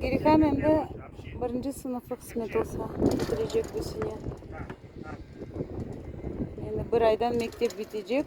Girgam endi birinci sınıfı qısmet olsa bitirecek bu sene. Endi bir aydan mektep bitecek.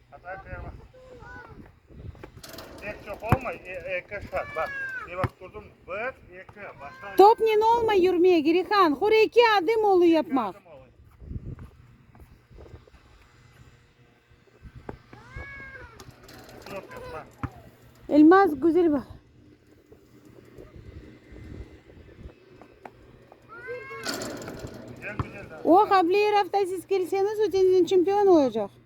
Topnen olmay yürmek, Girihan, hur eki adım olu yapmaq. Elmaz, güzel bak. O, Hableer Avtasiz kelseniz, ötenizin çempion olacaq.